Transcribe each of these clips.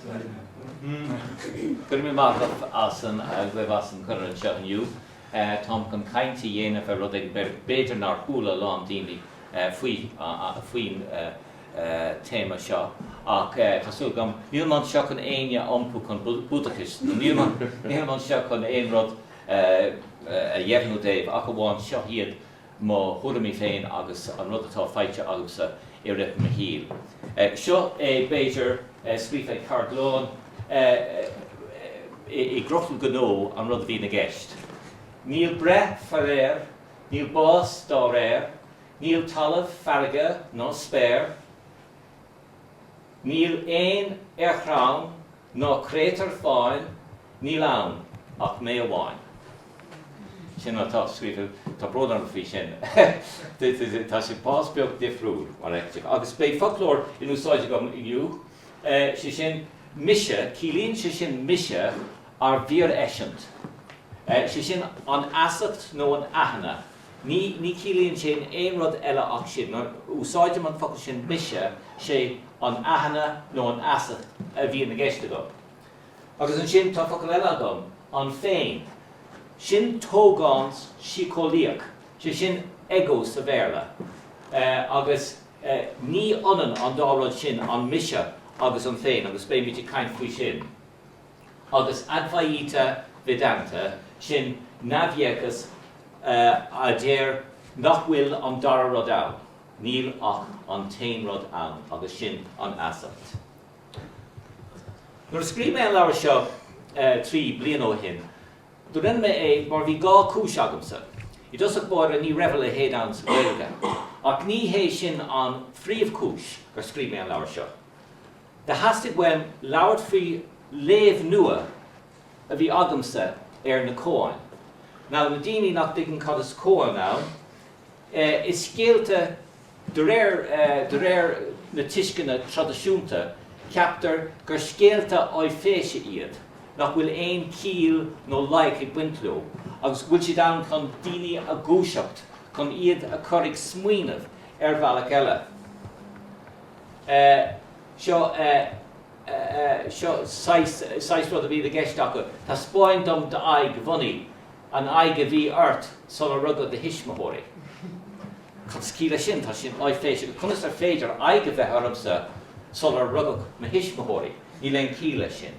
Go raibh míle maith agat as an agaibh as an cuireadh anseo inniu. Táim chun caint a dhéanamh ar rud éigin b'fhéidir nár chuala a lán daoine faoi, faoin téama seo ach tá súil agam, nílim anseo chun éinne a iompú chun Búdachais, nó nílim anseo chun aon rud a dheimhniú daoibh ach amháin seo iad mo thuairimí féin agus an rud atá faighte agamsa i rith mo shaoil. Seo é, b'fhéidir, scríofa go gearr glan i gcrotal cnó an rud a bhíonn i gceist. Níl breith faraor, níl bás dá réir, níl talamh, farraige ná spéir, níl éan ar chrann Ná créatúr fáin, níl ann ach mé amháin. Sin atá scríofa, tá brón orm faoi sin, tá sé pás beag difriúil mar a fheictear. Agus beidh foclóir in úsáid agam inniu, sé sin mise, ciallaíonn sé sin mise ár bhfíoreisint, sé sin an fheasacht nó an aithne Ní, ní chiallaíonn sin aon rud eile ach sin. Nuair a úsáidim an focal sin mise, sé an aithne nó an fheasacht a bhíonn i gceist agam. Agus ansin tá focal eile agam, an féin. Sin tógán síceolaíoch, sé sin ego sa Bhéarla. Agus ní h-ionann an dá rud sin, an mise agus an féin, agus beimid ag caint faoi sin. agus Advaita Vedanta, sin neamhdhéachas, a deir nach bhfuil an dara rud ann, níl ach an t-aon rud ann, agus sin an fheasacht. Nuair a scríobh mé an leabhar seo trí bliana ó shin, do rinne mé é mar bhí dhá cúis agamsa. I dtosach báire ní raibh a leithéid ann sa Ghaeilge, ach ní hé sin an phríomhchúis gur scríobh mé an leabhar seo. Theastaigh uaim labhairt faoi léamh nua a bhí agamsa ar na Cóáin, nó na daoine nach dtuigeann cad is Cóán ann, is scéalta de réir, de réir na tuisceana traidisiúnta, ceaptar gur scéalta áiféise iad, nach bhfuil aon ciall nó loighic ag baint leo, agus go bhfuil siad ann chun daoine a dhúiseacht, chun iad a chur ag smaoineamh ar bhealach eile. eh, seo, eh, eh, eh, seo saghas, saghas rud a bhí i gceist acu, taispeáin dom d'aghaidh bhunaidh, an aghaidh a bhí ort sular rugadh do thuismitheoirí. Cad is ciall leis sin? Tá sin áiféiseach. Agus conas ar féidir aghaidh a bheith ormsa sular rugadh mo thuismitheoirí? Níl aon chiall leis sin.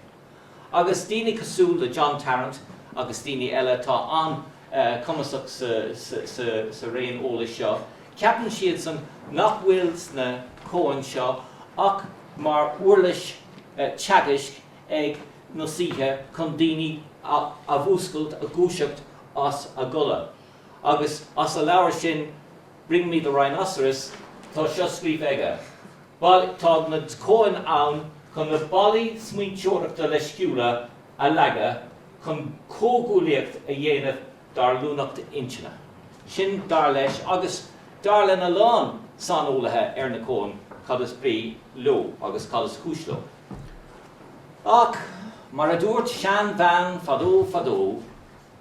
agus daoine cosúil le John Tarrant agus daoine eile atá an-chumasach sa raon eolais seo, ceapann siadsan nach bhfuil sna koan seo ach mar uirlis teagaisc ag na saoithe chun daoine a mhúscailt, a dhúiseacht as a gcodladh. Agus as a leabhar sin Bring me the Rhinoceros, tá seo scríofa aige, Bhal, tá na koan ann chun na ballaí smaointeoireachta leisciúla a leagadh, chun comhghuaillíocht a dhéanamh dár luaineacht intinne. Sin, dar leis, agus dar lena lán saineolaithe ar na koan, cad is brí leo agus cad is cúis leo. Ach, mar a dúirt seanbhean fadó fadó.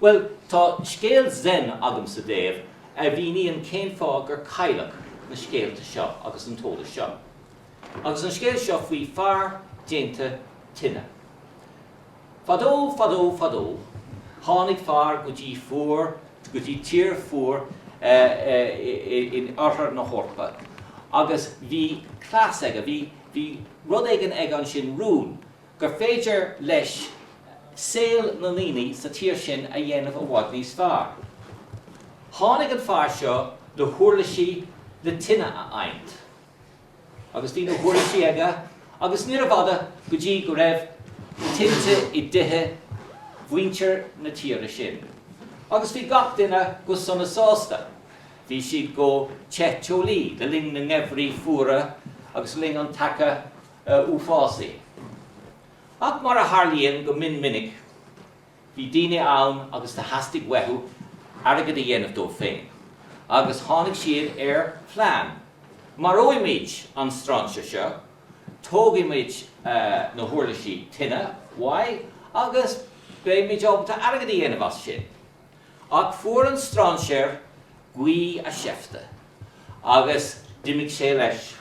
Bhuel, tá scéal Zen agamsa daoibh a mhíníonn cén fáth gur cailleadh na scéalta seo agus an t-eolas seo. Agus an scéal seo faoi fear déanta tine. Fadó, fadó, fadó, tháinig fear go dtí, go dtí tír fhuar in oirthear na hEorpa agus bhí cleas aige, bhí, bhí rud éigin aige ansin, rún, gur féidir leis saol na ndaoine sa tír sin a dhéanamh i bhfad níos fearr. Tháinig an fear seo le huirlisí le tine a adhaint. Agus bhí na huirlisí aige agus níorbh fhada go dtí go raibh tinte i dtithe mhuintir na tíre sin agus bhí gach duine go sona sásta. Bhí siad go te teolaí le linn na ngeimhrí fuara agus le linn an tseaca. uafásaigh. Ach mar a tharlaíonn go mion minic, bhí daoine ann agus do theastaigh uathu airgead a dhéanamh dóibh féin agus tháinig siad ar phlean, maróimid an stráinséir seo, tógfaimid na huirlisí tine uaidh agus beimid ábalta airgead a dhéanamh as sin. Ach fuair an stráinséir gaoth a sheifte agus d'imigh sé leis.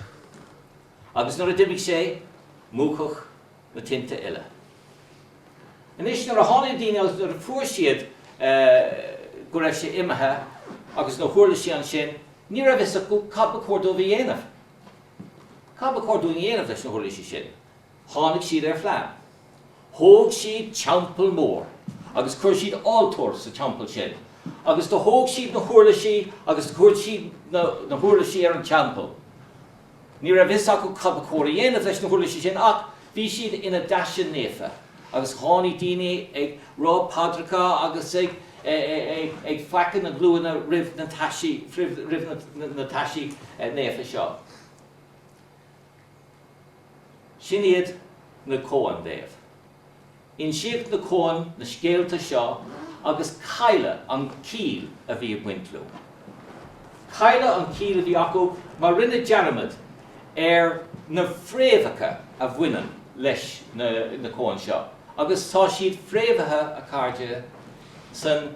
Agus nuair a d'imigh sé, múchadh na tinte uile. Anois, nuair a tháinig na daoine agus nuair a fuair siad go raibh sé imithe agus na huirlisí ansin, ní raibh a fhios acu cad ba chóir dóibh a dhéanamh. Cad ba chóir dúinn a dhéanamh leis na huirlisí sin? Tháinig siad ar phlean. Thóg siad teampall mór agus chuir siad altóir sa teampall sin agus do thóg siad na huirlisí agus do chuir siad na huirlisí ar an teampall. Ní raibh fhios acu cad ba chóir a dhéanamh leis na huirlisí sin ach bhí siad ina dtaisí naofa agus tháinig daoine ag rá paidreacha agus ag feacadh na glúine roimh na taisí roimh na taisí naofa seo. Sin iad na koan. Insíodh na koan, na scéalta seo agus cailleadh an chiall a bhí ag baint leo. Cailleadh an chiall a bhí acu mar rinneadh dearmad ar na fréamhacha a bhaineann leis na koan seo agus tá siad fréamhaithe a chairde san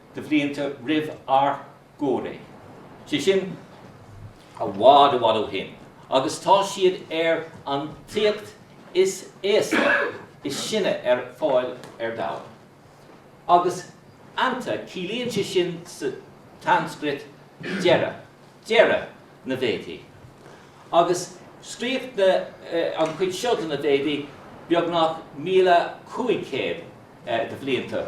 de bhlianta roimh ár gcomhré, sé sin, i bhfad, i bhfad ó shin, agus tá siad ar an téacs is aosta, is sine ar fáil ar domhan. Agus anta, ciallaíonn sé sin sa tSanscrait deireadh, deireadh na Véadaí. Agus scríobhadh na, an chuid seo de na Véadaí beagnach míle cúig chéad de bhlianta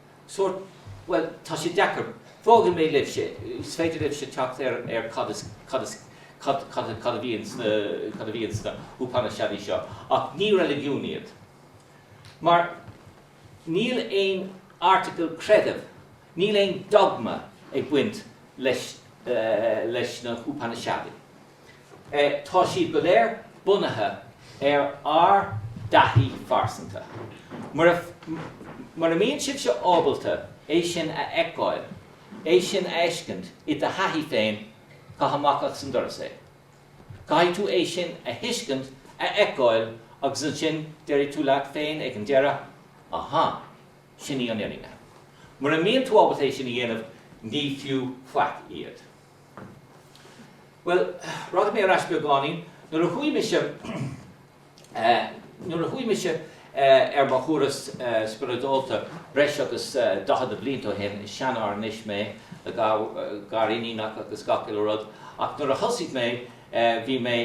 sórt, bhuel, tá sé deacair, fágfaidh mé libhse, is féidir libhse teacht ar ar cad is, cad is, cad, cad, cad a bhíonn sna, cad a bhíonn sna hUpainiseadaí seo, ach ní reiligiún iad. Mar níl aon article creidimh, níl aon dogma ag baint leis, leis na hUpainiseadaí. Tá siad go léir bunaithe ar ár dtaithí phearsanta. Mura mbíonn sibhse ábalta é sin a fheiceáil, é sin a fheiscint i do thaithí féin, caith amach as an doras é. Caithfidh tú é sin a thuiscint, a fheiceáil agus ansin déarfaidh tú leat féin ag an deireadh, Aha, sin í an fhírinne. Mura mbíonn tú ábalta é sin a dhéanamh, ní fiú faic iad. Bhuel, raghaidh mé ar ais beagáinín. Nuair a chuaigh mise nuair a chuaigh mise ar mo thuras spioradálta breis agus daichead blianta ó shin, is seanfhear anois mé, le gariníonacha agus gach uile rud, ach nuair a thosaigh mé bhí mé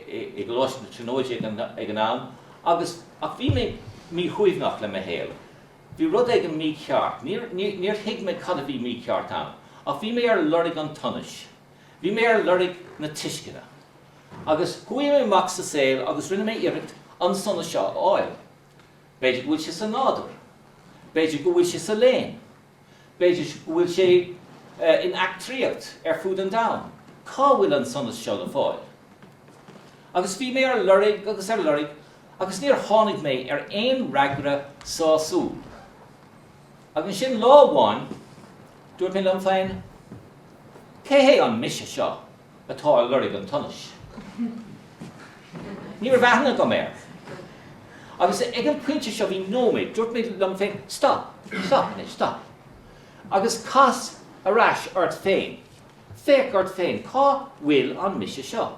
i gColáiste na Tríonóide ag an am agus ach bhí mé míshuaimhneach le mo shaol. Bhí rud éigin mícheart. Níor thuig mé cad a bhí mícheart ann. Ach bhí mé ar lorg an tsonais. Bhí mé ar lorg na tuisceana. Agus chuaigh mé amach sa saol agus rinne mé iarracht an sonas seo a fháil. B'fhéidir go bhfuil sé sa nádúr. B'fhéidir go bhfuil sé sa léann. B'fhéidir go bhfuil sé in eachtraíocht ar fud an domhain. Cá bhfuil an sonas seo le fáil? Agus bhí mé ar lorg agus ar lorg agus níor tháinig mé ar aon fhreagra sásúil. Agus ansin lá amháin, dúirt mé liom féin, Cé hé an mise seo atá ar lorg an tsonais? Ní raibh aithne agam air. Agus ag an phointe seo bhí nóiméad, dúirt mé liom féin, Stop, stop anois, stop. Agus cas ar ais ort féin. Féach ort féin, cá bhfuil an mise seo?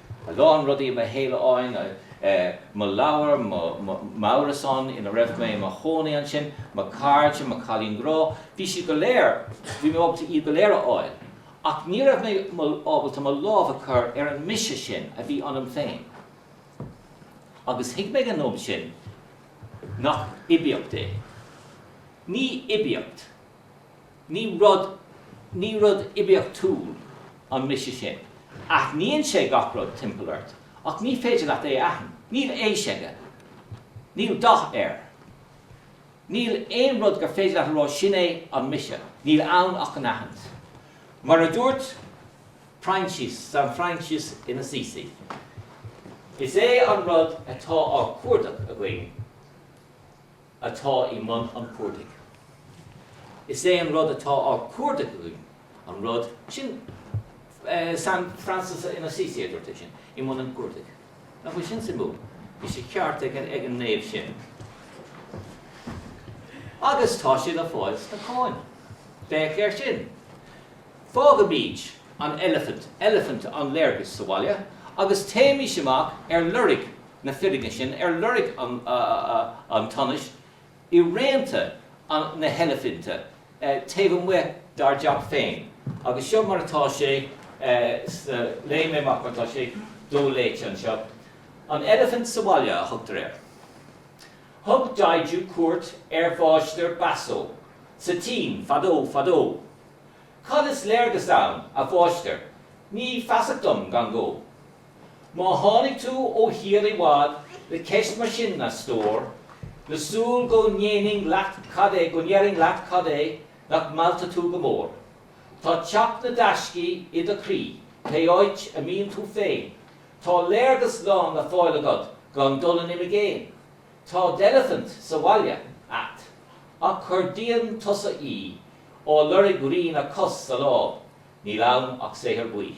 A lán rudaí i mo shaol amháin, mo leabhar, m'árasán ina raibh mé i mo chónaí ansin, mo cairde, mo cailín grá, bhí siad go léir, bhí mé ábalta iad go léir a fháil. Ach ní raibh mé ábalta mo lámh a chur ar an mise sin a bhí ionam féin. Agus thuig mé an am sin nach oibiacht é. Ní oibiacht. Ní rud, ní rud oibiachtúil an mise sin. Aithníonn sé gach rud timpeall ort ach ní féidir leat é a aithint. Níl aois aige. Níl dath air. Níl aon rud gur féidir leat a rá 'sin é an mise'. Níl ann ach an aithint. Mar a dúirt Proinsias, San Francis in Assisi, is é an rud atá á chuardach againn, atá i mbun an chuardaigh. Is é an rud atá á chuardach againn an rud sin. San Francis of Assisi a dúirt é sin, i mbun an chuardaigh. Nach bhfuil sin suimiúil? Bhí sé ceart ag an naomh sin. Agus tá sé le fáil sna cóain. Féach air sin. Fágaimid an eilifint, eilifint an léargais, sa bhaile agus téimis amach ar lorg na fírinne sin ar lorg an tsonais i rianta na heilifinte taobh amuigh dár dteach féin agus seo mar atá sé sna, léifidh mé amach mar atá sé doléite anseo, An Eilifint sa Bhaile a thugtar air. Thug Daiju cuairt ar Mháistir Baso sa tSín fadó fadó. Cad is léargas ann, a Mháistir? Ní feasach dom gan gó. Má tháinig tú ó thír i bhfad le ceist mar sin, a stór, le súil go ndéanfainn leat cad é, go ndéarfainn leat cad é nach meallta tú go mór? Tá teach na dtaiscí i do chroí, pé áit a mbíonn tú féin. Tá léargas lán le fáil agat gan dul in imigéin. Tá d'eilifint sa bhaile agat, ach cuardaíonn tusa í, ag lorg rian a cos sa láib, Níl ann ach saothar buí.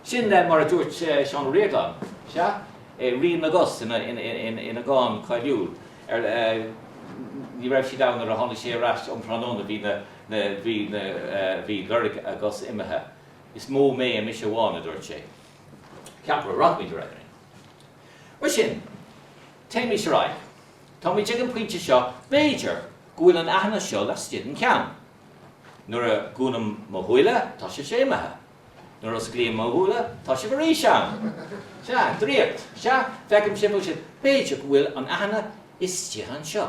Sin mar a dúirt Seán Ó Ríordáin, sea? i Rian na gCos ina dhán cáiliúil ar Ní raibh siad ann nuair a tháinig sé ar ais um thráthnóna bhí na bhí na bhí lorg a gcos imithe. Is mó mé i mise amháin, a dúirt sé. Ceapaim go rachaimid ar aghaidh linn. Mar sin, téimís ar aghaidh. Táimid ag an bpointe seo, b'fhéidir, go bhfuil an aithne seo laistigh den cheann. Nuair a dhúnaim mo shúile, tá sibhse imithe. Nuair a osclaím mo shúile, tá sibh arís ann! Sea, draíocht! Sea, feicim sibh agus sibh. B'fhéidir go bhfuil an aithne istigh anseo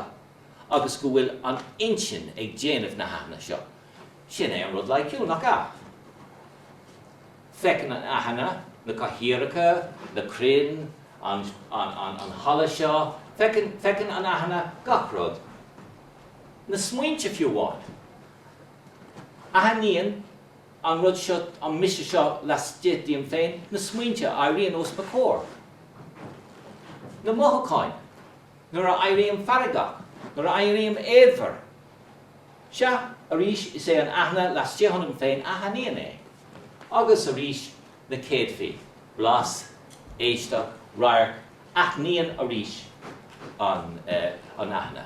agus go bhfuil an intinn ag déanamh na haithne seo. Sin é an rud loighciúil, nach ea? Feiceann an aithne na cathaoireacha, na crainn, an halla seo, feiceann an aithne gach rud. na smaointe fiú amháin. Aithníonn an rud seo, an mise seo laistigh díom féin, na smaointe a éiríonn os mo chomhair, na mothúcháin, nuair a éirím feargach, nuair a éirím éadmhar. Sea, arís, is é an aithne laistigh ionam féin a aithníonn é. Agus arís, na céadfaí, blas, éisteacht, radharc, aithníonn arís an aithne.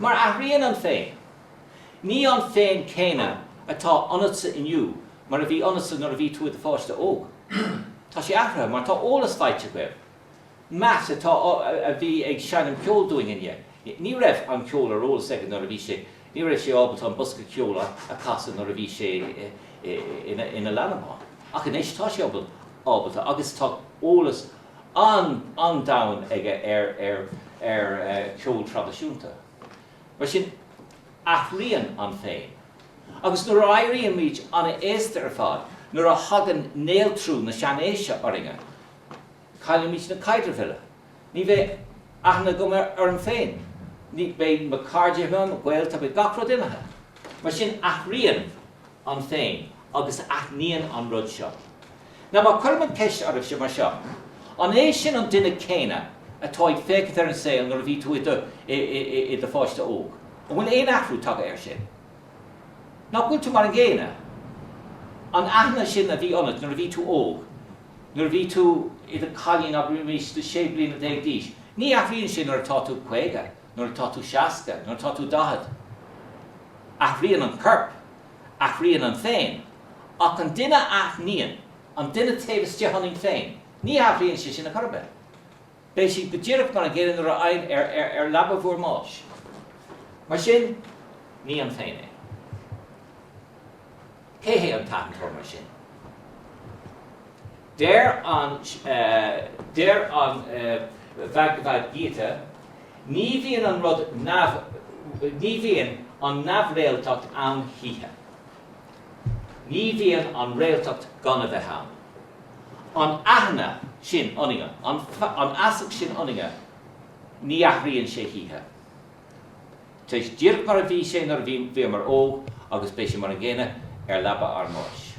Mar athraíonn an féin, ní an féin céanna atá ionatsa inniu mar a bhí ionatsa nuair a bhí tú i do pháiste óg. Tá sé athraithe mar tá eolas faighte agaibh. Matt, atá, a bhí ag seinm ceoil dúinn inné, ní raibh an ceol ar eolas aige nuair a bhí sé, ní raibh sé ábalta an bosca ceoil a casadh nuair a bhí sé ina leanbh ann. Ach anois tá sé ábalta agus tá eolas an-domhain aige ar cheol traidisiúnta. Mar sin, athraíonn an féin. Agus nuair a éirímid an-aosta ar fad, nuair a thagann néaltrú na seanaoise orainne, caillimid na caidrimh uile. Ní bheidh aithne agam orm féin. Ní bheidh mo cairde uaim, a gaolta, beidh gach rud imithe. Mar sin, athraíonn an féin agus aithníonn an rud seo. Nó má cuirim an cheist oraibhse mar seo, an é sin an duine céanna atá ag féachaint ar an saol nuair a bhí tú i do pháiste óg? An bhfuil aon athrú tagtha air sin? Nach bhfuil tú mar an gcéanna? An aithne sin a bhí ionat nuair a bhí tú óg, nuair a bhí tú i do cailín agus arís le sé bliana déag d'aois, ní athraíonn sin nuair atá tú caoga nuair atá tú seasca, nuair atá tú daichead. Athraíonn an corp, athraíonn an féin, ach an duine a aithníonn, an duine taobh istigh ionainn féin, ní athraíonn sé sin ar chor ar bith. Beidh sé go díreach mar an gcéanna nuair a théann sibh ar leaba bhúr mbáis. Mar sin, ní an féin é. Cé hé an t-aitheantóir mar sin? Deir an Deir an Bhagavad Gita, Ní bhíonn an rud neamh Ní bhíonn an neamhréaltacht ann choíche. Ní bhíonn an réaltacht gan a bheith ann. An aithne sin ionainne, an an fheasacht sin ionainne, ní athraíonn sé choíche. Tá sé díreach mar a bhí sé nuair a bhíomar óg agus beidh sé mar an gcéanna ar leaba ár mbáis.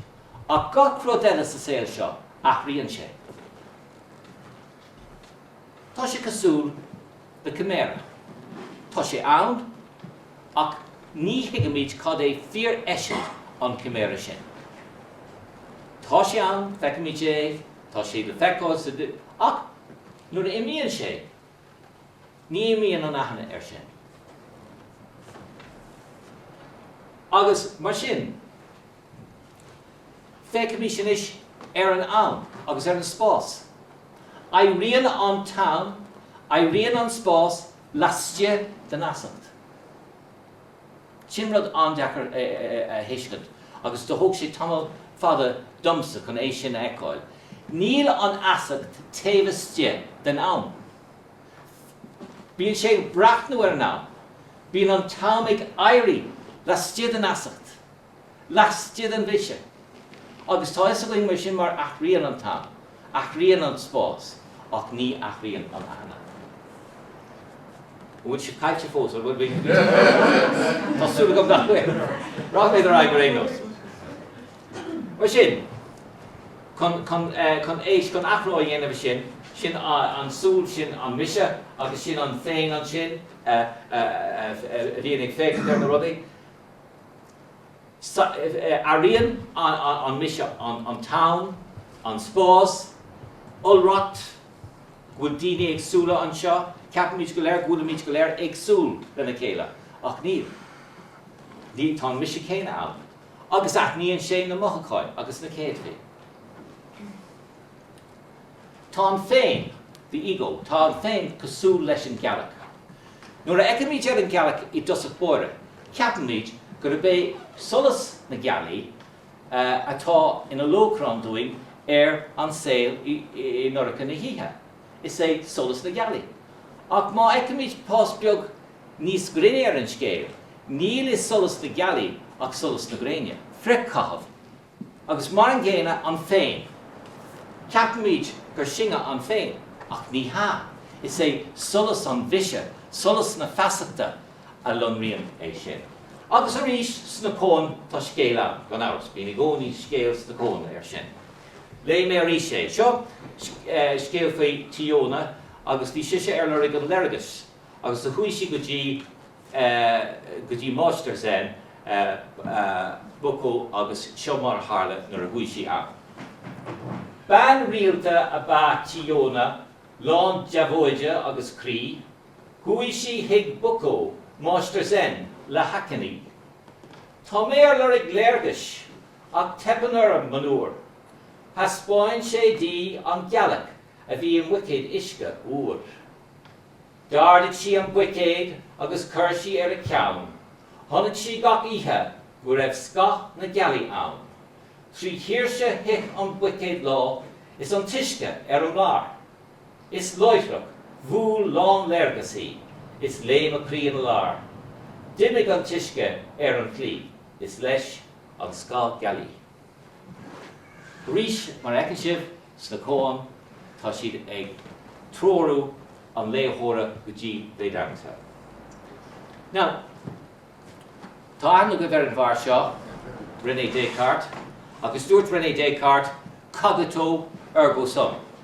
Ach gach rud eile sa saol seo, athraíonn sé. Tá sé cosúil le ciméara. Tá sé ann, ach ní thuigimid cad é fíor-eisint an chiméara sin. Tá sé ann, feicimid é, tá sé le feiceáil sa, ach nuair a imíonn sé, ní imíonn an aithne air sin. Agus mar sin. Féachaimís anois ar an am agus ar an spás. Éiríonn an t-am, éiríonn an spás laistigh den fheasacht. Sin rud an-deacair a thuiscint agus do thóg sé tamall fada domsa chun é sin a fheiceáil. Níl an fheasacht taobh istigh den am. Bíonn sé ag breathnú ar an am. Bíonn an t-am ag éirí laistigh den fheasacht. laistigh den mhise. Agus tá 'fhios againn mar sin mar athraíonn an t-am, athraíonn an spás ach ní athraíonn an aithne. An bhfuil sibh caillte fós ar a bhfuil á rá agam? Tá súil agam nach bhfuil. Rachaimid ar aghaidh ar aon nós. Mar sin, chun, chun, eh, chun éis, chun athrú a dhéanamh i sin, sin an súil, sin an mise agus sin an féin ansin a, a, a, a, a bhíonn ag féachaint ar na rudaí. Airíonn an Mise an tAm, an Spás, iolracht go bhfuil daoine éagsúla anseo, ceapaimid go léir go bhfuilimid go léir éagsúil lena chéile, ach níl. Níl, tá an Mise céanna ann, agus aithníonn sé na mothucáin agus na céadfaí. Tá an féin, the ego, tá an féin cosúil leis an ghealach. Nuair a fheicimid ar an ghealach i dtosach báire, ceapaimid gurb é solas na gealaí atá ina lóchrann dúinn ar an saol i ndorcha na hoíche. Is é solas na gealaí. Ach má fheicimid pás beag níos grinne ar an scéal, níl i solas na gealaí ach solas na gréine, frithchaitheamh. Agus mar an gcéanna an Féin. Ceapaimid gur sinne an Féin, ach ní hea, is é solas an Mhise, solas na feasachta, a lonraíonn é sin. Agus arís sna koan tá scéal ann, gan amhras, bíonn i gcónaí scéal sna koan ar sin. Léigh mé arís é. Seo scéal faoi Chiyono agus bhí sise ar lorg an léargais agus do chuaigh sí go dtí go dtí Máistir Zen, Bukko agus seo mar a tharla nuair a chuaigh sí ann. Bean rialta ab ea Chiyono, lán deabhóide agus croí. Chuaigh sí chuig Bukko, Máistir Zen, le hachainí. Tá mé ar lorg léargais, ach teipeann orm, monuar. Thaispeáin sé di an ghealach a bhí i mbuicéad uisce fhuair. D'ardaigh sí an buicéad agus chuir sí ar a ceann. Chonaic sí gach oíche go raibh scáth na gealaí ann. Trí thuirse thit an buicéad lá is an t-uisce ar an mblár. Is láithreach, bhuail lán léargas í, is léim a croí ina lár. D'imigh an t-uisce ar an chlaí, is leis, an scáth gealaí. Arís, mar a fheiceann sibh sna Koan, tá siad ag treorú an léitheora go dtí Vedanta. Now, tá aithne agaibh ar an bhfear seo, René Descartes, agus dúirt René Descartes, Cogito, ergo sum.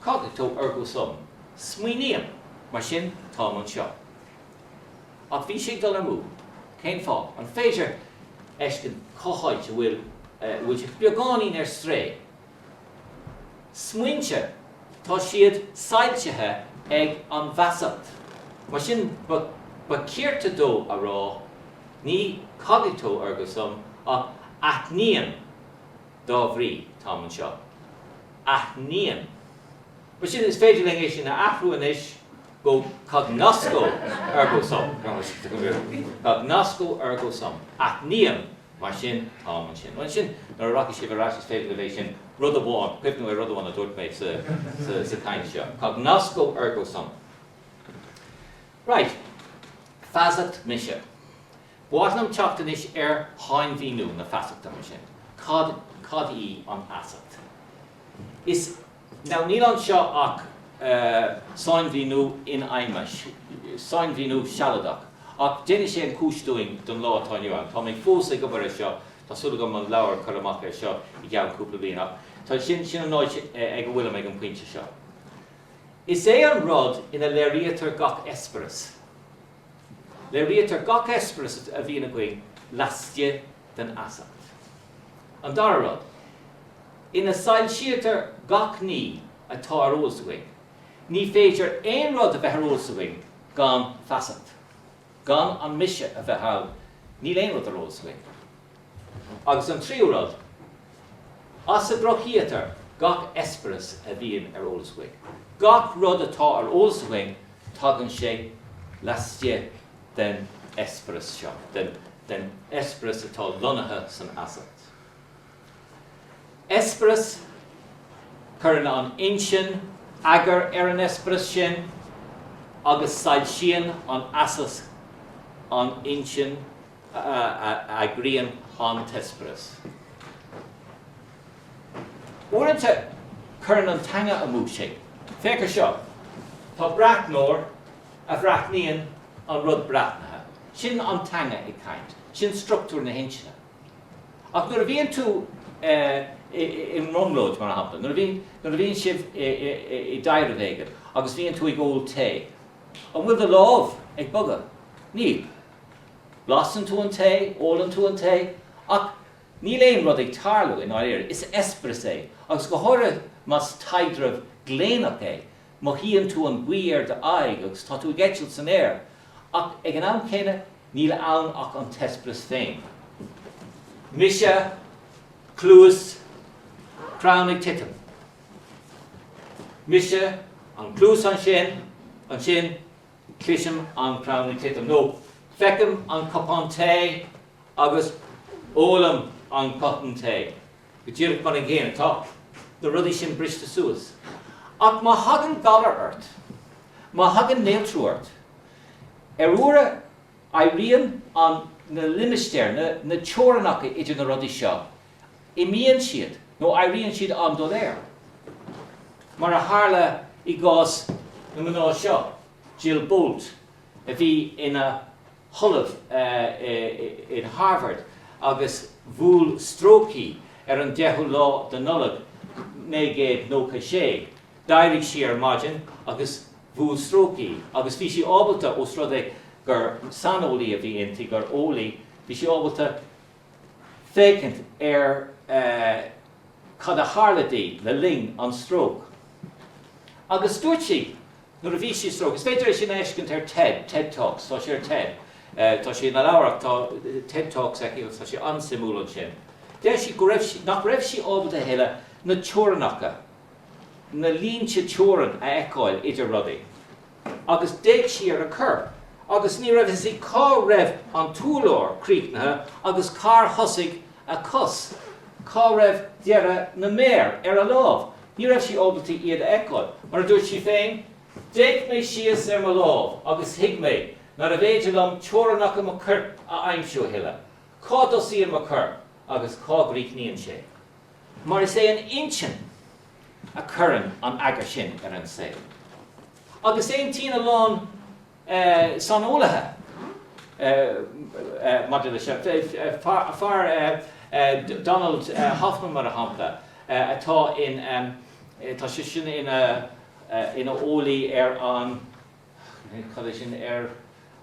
Cogito, ergo sum. Smaoiním, mar sin táim anseo. Ach bhí sé ag dul amú. Cén fáth? An féidir fheiscint cá háit a bhfuil sé beagáinín ar strae? Smaointe, tá siad soilsithe ag an bhfeasacht. Mar sin ba cirte dó a rá, ní cogito ergo sum ach aithním. Dá bhrí, táim anseo. Aithním. Mar sin, is féidir linn é sin a athrú anois go Cognosco, ergo sum. Cognosco, ergo sum. Aithním, mar sin, táim ansin. Bhuel, ansin, nuair a rachaidh sibh ar ais, is féidir libh é sin, rud amháin, cuimhniú ar rud amháin a dúirt mé sa chaint seo. Cognosco, ergo sum. Right. Feasacht, mise. ba mhaith liom teacht anois ar shainmhíniú na feasachta, mar sin. Cad, cad í an fheasacht? Is, now níl anseo ach, eh, sainmhíniú infheidhme, sainmhíniú sealadach, ach déanfaidh sé an chúis dúinn don lá atá inniu ann. Tá mé fós ag obair ar seo, tá súil agam an leabhar a chur amach ar seo i gceann cúpla bliain, ach tá, sin, sin an áit ag a bhfuilim ag an bpointe seo. Is é an rud ina léiríotar gach eispéireas. Léirítear gach eispéireas a bhíonn againn laistigh den fheasacht. An dara rud, ina soilsítear gach ní atá ar eolas againn, ní féidir aon rud a bheith ar eolas againn gan feasacht. Gan an mise a bheith ann, níl aon rud ar eolas againn. Agus an tríú rud, as a gcruthaítear gach eispéireas a bhíonn ar eolas againn. Gach rud atá ar eolas againn, tagann sé laistigh den eispéireas seo, den eispéireas atá lonnaithe san fheasacht. Eispéireas, cuireann an intinn eagar ar an eispéireas sin agus soilsíonn an fheasacht an intinn. a eagraíonn an t-eispéireas. Uaireanta cuireann an teanga amú sinn. Féach ar seo. Tá breathnóir a bhreathnaíonn an rud breathnaithe. Sin an teanga ag caint. Sin structúr na hintinne. Ach nuair a bhíonn tú i mbrionglóid, mar shampla, nuair a bhíonn sibh i dtaidhreamh éigin agus bíonn tú ag ól tae, an bhfuil do lámh ag bogadh? Níl. Blaiseann tú an tae, ólann tú an tae, ach níl aon rud ag tarlú, i ndáiríre. Is eispéireas é, agus go háirithe más taidhreamh gléineach é, mothaíonn tú an ghaoth ar d'aghaidh agus tá tú ag eitilt san aer, ach ag an am céanna, níl ann ach an t-eispéireas féin. Mise, cluas, crann ag titim. Mise, an cluas ansin, ansin, Cloisim an crann ag titim, nó feicim an cupán tae agus ólaim an cupán tae, go díreach mar an gcéanna. Tá na rudaí sin briste suas. Ach má thagann galar ort, má thagann néaltrú ort, ar uairibh éiríonn an, na limistéir, na teorainneacha idir na rudaí seo imíonn siad nó éiríonn siad an-doiléir, mar a tharla i gcás na mná seo, Jill Bolte, a bhí ina hollamh in Harvard agus bhuail stróc í ar an 10ú lá de Nollaig 1996, d'éirigh sí ar maidin agus bhuail stróc í agus bhí sí ábalta, os rud é gur saineolaí a bhí inti, gur eolaí, bhí sí ábalta. féachaint ar cad a tharla di le linn an stróc. Agus dúirt sí, nuair a bhí sí stróc, is féidir é sin a fheiscint ar TED Talks, tá sé ar TED, tá sé ina leabhar ach tá TED Talks aici agus tá sé an-suimiúil ansin, deir sí go raibh sí, nach raibh sí ábalta a thuilleadh na teorainneacha, na línte teorann a fheiceáil idir rudaí. agus d'fhéach sí ar a corp agus ní raibh a fhios aici cá raibh an t-úrlár críochnaithe agus cár thosaigh a cos, cá raibh deireadh na méar ar a lámh. Ní raibh sí ábalta iad a fheiceáil. Mar a dúirt sí féin, D'fhéach mé síos ar mo lámh agus thuig mé nárbh fhéidir liom teorainneacha mo choirp a aimsiú a thuilleadh, cá dtosaíonn mo chorp agus cá gcríochnaíonn sé? Mar is é an intinn a chuireann an eagar sin ar an saol. Agus aontaíonn a lán saineolaithe maidir leis seo, fear, Donald Hoffman mar shampla, atá in, tá sé sin ina eolaí ar an, Cad é sin, ar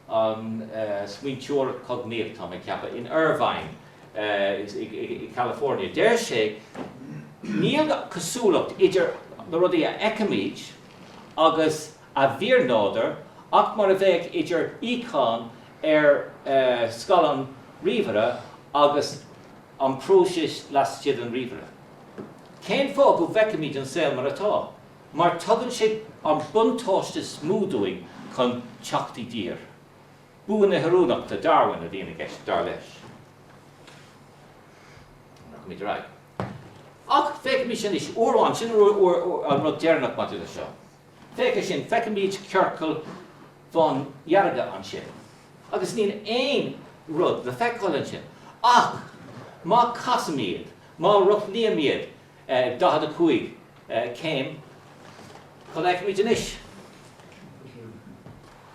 an smaointeoireacht chognaíoch, tá mé ag ceapadh. In Irvine, i gCalifornia, deir sé, Níl cosúlacht idir na rudaí a fheicimid agus a bhfíornádúr ach mar a bheadh idir íocón ar scaileán ríomhaire agus an próiseas laistigh den ríomhaire. Cén fáth go bhfeicimid an saol mar atá? mar tugann sé an buntáiste is mó dúinn chun teacht i dtír. Bua na hoiriúnachta Darwin. Ar aghaidh leis. Ach féachaimis anois, uair amháin, sin an rud deireanach maidir leis seo. Féach ansin, feicimid ciorcail bhándearga ansin. Agus níl aon rud le feiceáil ansin. Ach má chasaim iad, má rothlaím iad, Ag 45 céim, cad a fheicimid anois?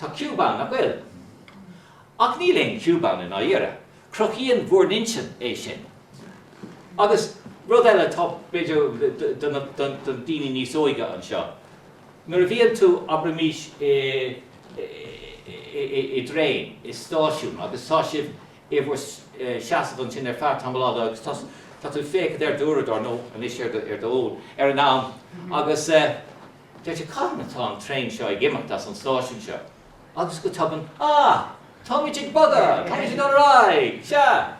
Tá ciúb ann, nach bhfuil? Ach níl aon chiúb ann i ndáiríre. Cruthaíonn bhur n-intinn é sin. Agus rud eile atá, b'fhéidir, do na daoine níos óige anseo, nuair a bhíonn tú, abraimís, i dtraein, i stáisiún agus tá sibh i do sheasamh ansin ar feadh tamaill fhada agus tá tá tú ag féachaint ar d'uaireadóir nó anois ar do ar do fhón ar an am agus deir tú cathain atá an traein seo ag imeacht as an stáisiún seo agus go tobann, á! Táimid ag bogadh! Táimid ag dul ar aghaidh! Sea!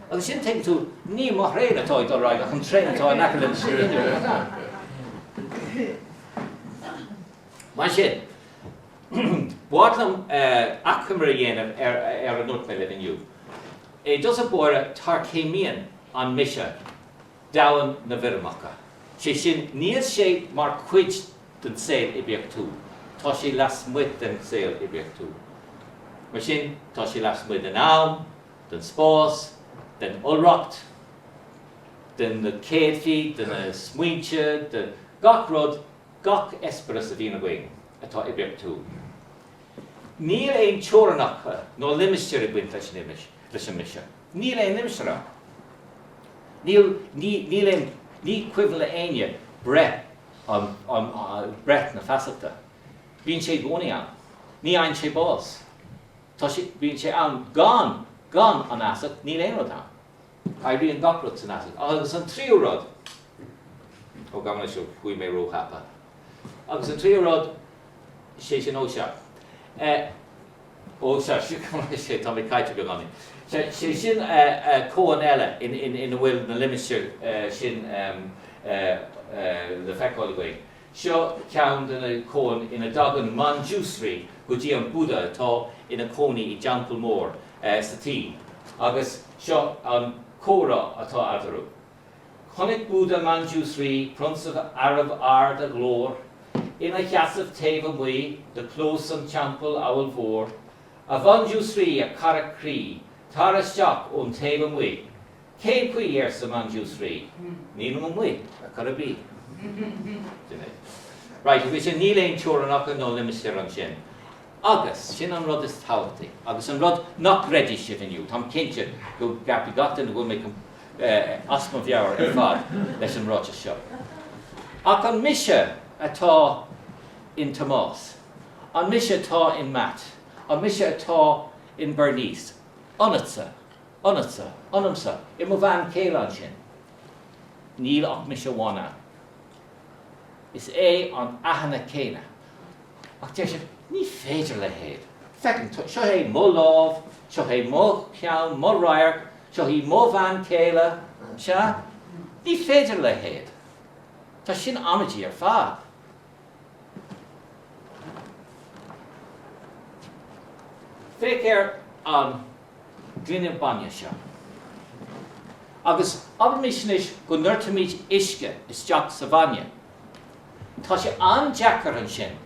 Agus ansin tuigeann tú ní mo thraein atá ag dul ar aghaidh ach an traein atá in aice liom sa líne roimhe. Mar sin, b'fhuath liom achoimre a dhéanamh ar a ndúirt mé libh inniu. I dtosach báire, tarchéimníonn an mise domhan na bhfoirmeacha, sé sin, níl sé mar chuid den saol oibiachtúil, tá sé lasmuigh den saol oibiachtúil. Mar sin, tá sé lasmuigh den am, den spás, den iolracht, de na céadfaí, de na smaointe, de gach rud, gach eispéireas a bhíonn againn atá oibiachtúil. Níl aon teorainneacha ná limistéir ag baint leis an mise. Níl aon limistéar ann. Níl, ní, níl aon, ní cuimhin le éinne breith an, an, breith na feasachta. Bíonn sé i gcónaí ann. Ní fhaigheann sé bás. Tá sé, bíonn sé ann gan, gan an fheasacht níl aon rud ann. Oibríonn gach rud san fheasacht. Ach, agus an tríú rud. Ó, gabh mo leithscéal chuaigh mé róthapa. Agus an tríú rud, sé sin, ó sea. Eh, ó sea, sea, gabh mo leithscéal, tá mé caillte beagáinín. Sea, sé sin eh, eh, cóan eile in, in, ina bhfuil na limistéir eh, sin em, eh, eh, le feiceáil againn. Seo ceann de na cóain ina dtagann Manjushri go dtí an Buddha atá ina cónaí i dteampall mór sa tSín agus seo an comhrá atá eadarthu. Chonaic Buddha Manjushri, prionsa arbh ard a ghlór, ina sheasamh taobh amuigh de chlós an teampaill amhail mhór, A Mhanjushri, a chara croí, tar isteach ón taobh amuigh. Cén fáth arsa Manjusree. Nílim amuigh ar chor ar bith. Sin é. Right, agus ansin níl aon teorainneacha nó limistéir ansin. Agus, sin an rud is tábhachtaí, agus an rud nach gcreidfidh sibh inniu, táim cinnte go gceapfaidh gach duine go bhfuil mé as mo mheabhair ar fad leis an ráiteas seo. Ach an mise atá in Tomás? An mise atá in Matt? An mise atá in Bernice? Ionatsa? Ionatsa, ionamsa, i mo bhean chéile ansin. Níl ach mise amháin ann. Is é an aithne céanna. Ach deir siad, ní féidir a leithéid. Feicim, seo é mo lámh, seo é mo cheann, mo radharc, seo í mo bhean chéile, sea? Ní féidir a leithéid. Tá sin amaideach ar fad. Feictear an. gloine bainne seo. Agus abraimís anois go ndoirtimid uisce isteach sa bhainne. Tá sé an-deacair ansin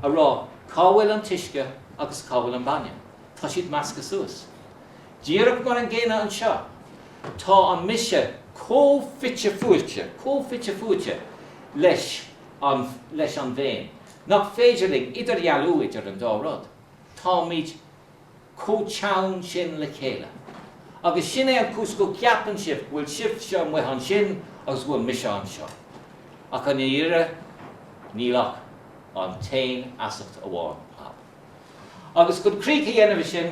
a rá cá bhfuil an t-uisce agus cá bhfuil an bainne, tá siad measctha suas. Díreach mar an gcéanna anseo, tá an mise chomh fite fuaite, chomh fite fuaite leis an, leis an bhféin, nach féidir linn idirdhealú idir an dá rud. Táimid. chomh teann sin le chéile. Agus sin é an cúis go gceapann sibh go bhfuil sibhse amuigh ansin agus go bhfuil mise anseo. Ach i ndáiríre, níl ach an t-aon fheasacht amháin ann. Agus chun críoch a dhéanamh de sin,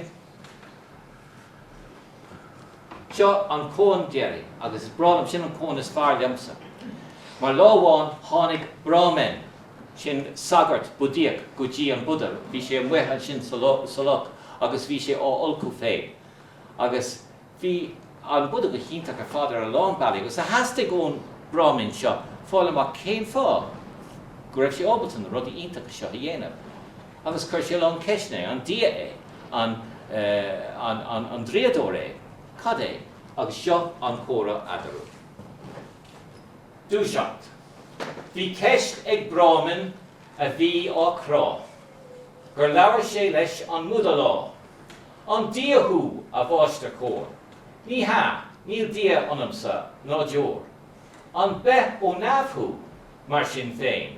Seo an cón deiridh agus is breá liom, sin an cón is fearr liomsa. Mar lá amháin tháinig Brahmin, sin sagart Buddhaíoch, go dtí an Buddha, bhí sé amuigh ansin sa loch agus bhí sé á fholcadh féin. Agus bhí an Buddha go hiontach ar fad ar a lán bealaí agus theastaigh ón Brahmin seo fáil amach cén fáth go raibh sé ábalta na rudaí iontacha seo a dhéanamh. Agus chuir sé lán ceisteanna air, an Dia é? An draíodóir é? Cad é? Agus seo an comhrá eadarthu. Dúiseacht. Bhí ceist ag Brahmin a bhí á chrá, gur labhair sé leis an mBuddha lá, An Dia thú, a mháistir chóir? Ní hea, níl Dia ionamsa, ná deoir. An beith ó neamh thú, mar sin féin?